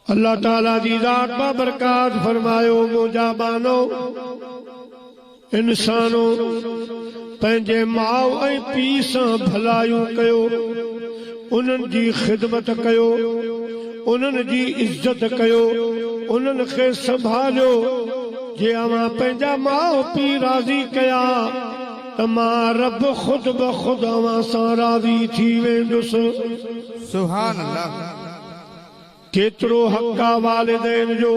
الله تعاليٰ جي ذات بابرڪات فرمايو، منهنجا ٻانهو! انسانو! پنهنجي ماء ۽ پيء سان ڀلايون ڪيو، انهن جي خدمت ڪيو، انهن جي عزت ڪيو، انهن کي سنڀاليو، جي اوهان پنهنجا ماء پيء راضي ڪيا ته مان رب خود بخود اوهان سان راضي ٿي ويندس. سبحان الله ڪيترو حق آ والدين جو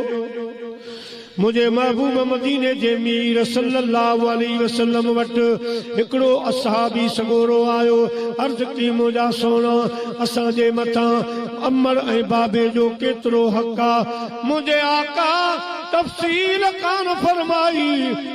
منهنجي محبوب مديني جي مير صلّي الله عليه وسلّم وٽ هڪڙو اصحابي سڳورو آيو عرض ڪي منهنجا سهڻا اسان جي مٿان عمّر ۽ بابي جو ڪيترو حق آ منهنجي آقا تفصيل ڪانه فرمائي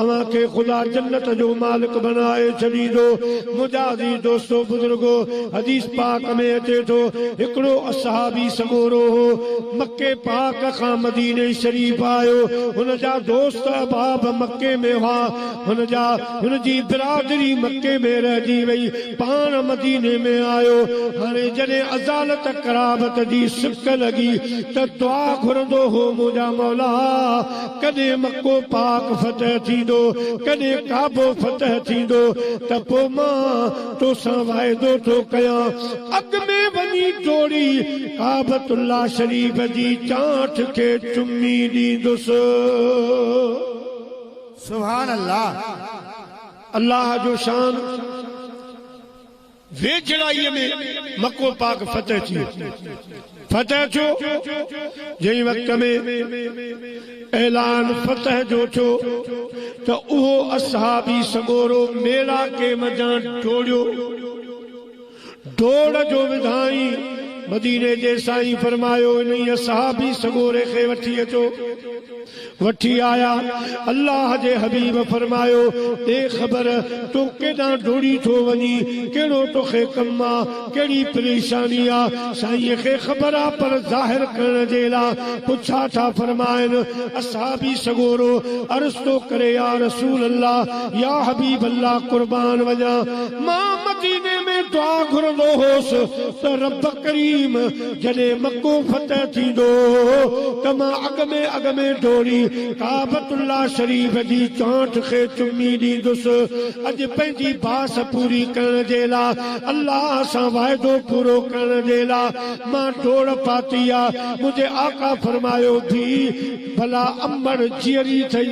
اوهان کي خدا جنت جو مالڪ بنائي ڇڏيندو. منهنجا عزيز دوستو بزرگو! حديث پاڪ ۾ اچي ٿو، هڪڙو اصحابي سڳورو هو، مڪي پاڪ کان مديني شريف آيو، هن جا دوست احباب مڪي ۾ هئا، هن جا هن جي برادري مڪي ۾ رهجي وئي، پاڻ مديني ۾ آيو، هاڻي جڏهن ازالت قرابت جي سڪ لڳي ته دعا گهرندو هو، منهنجا مولا! ڪڏهن مڪو پاڪ فتح ٿيندو، ڪڏهن ڪعبو فتح ٿيندو ته پوء مان توسان واعدو ٿو ڪيان اڳ ۾ وڃي ٽوڙي ڪعبة الله شريف جي چانٺ کي چمي ڏيندس. سبحان الله الله جو شان. ويجهڙائيء ۾ مڪو پاڪ فتح ٿيو. فتح ٿيو، جنهن وقت ۾ اعلان فتح جو ٿيو ته اهو اصحابي سڳورو ميڙاڪي منجهان ڊوڙيو. ڊوڙ جو وڌائين مديني جي سائين فرمايو انهيء اصحابي سڳوري کي وٺي اچو. وٺي آيا، الله جي حبيب فرمايو، اي خبر! تون ڪيڏانهن ڊوڙي ٿو وڃين، ڪهڙو توکي ڪم آ، ڪهڙي پريشاني آ، سائينء کي خبر آ پر ظاهر ڪرڻ جي لا ڪو ڇا ٿا فرمائن، اصحابي سڳورو عرض ٿو ڪري يا رسول الله، يا حبيب الله قربان وڃان، مان مديني ۾ دعا گهرندو هوس ته رب ڪريم! جڏهن مڪو فتح ٿيندو ته مان اڳ ۾ اڳ ۾ ڊوڙي ڪعبة الله شريف جي چانٺ کي چمي ڏيندس. اڄ پنهنجي باس پوري ڪرڻ جي لاء، الله سان واعدو پورو ڪرڻ جي لاء مان ڊوڙ پاتي آ. منهنجي آقا فرمايو، ڌيء! ڀلا امڙ جيئري ٿئي؟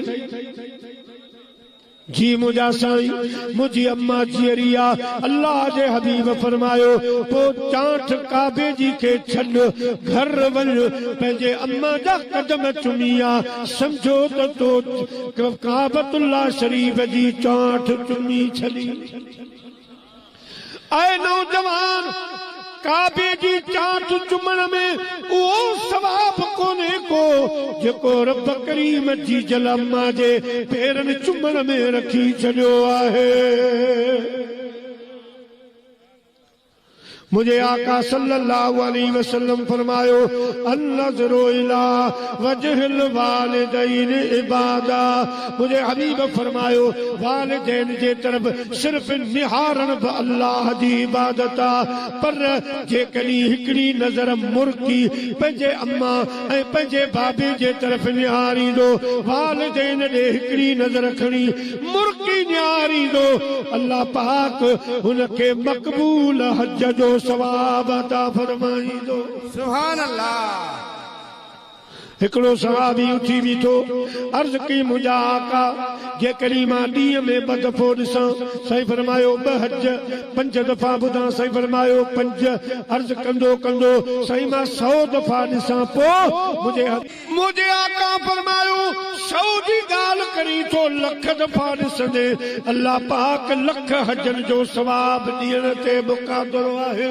جي منهنجا سائين، منهنجي اما جيئري آ، الله جي حبيب فرمايو، پوء چانٺ ڪعبي جي کي ڇڏ، گهر وڃ، پنهنجي اما جا قدم چمي آ، سمجهو ته تو ڪعبة الله شريف جي چانٺ چمي ڇڏي. اي نوجوان! ڪعبي جي چاچ چمڻ ۾ اهو ثواب ڪونهي ڪو جيڪو رب ڪريم جي جلعمه جي پيرن چمڻ ۾ رکي ڇڏيو آهي. منهنجي آقا صلّي اللّٰه عليه وسلّم فرمايو، النّظر الي وجه الوالدين عباده منهنجي حبيب فرمايو، والدين جي طرف صرف نهارڻ به الله جي عبادت آ، پر جيڪڏهن هڪڙي نظر مرڪي پنهنجي امان ۽ پنهنجي بابي جي طرف نهاريندو، والدين ڏي هڪڙي نظر کڻي، مرڪي نيار ايندو، الله پاڪ هن کي مقبول حج جو ثواب عطا فرمائيندو. سبحان الله. هڪڙو صحابي اٿي بيٺو، عرض ڪئي منهنجا آقا! جيڪڏهن مان ڏينهن ۾ ٻه دفعو ڏسان، سائين فرمايو ٻه حج، پنج دفعا ٻڌان، سائين فرمايو پنج، عرض ڪندو ڪندو، سائين مان سئو دفعا ڏسان پوء منهنجي حج. منهنجي آقا فرمايو، سؤ جي ڳالهه ڪرين ٿو، لک دفعا ڏسندين، الله پاڪ لک حجن جو ثواب ڏيڻ تي به قادر آهي.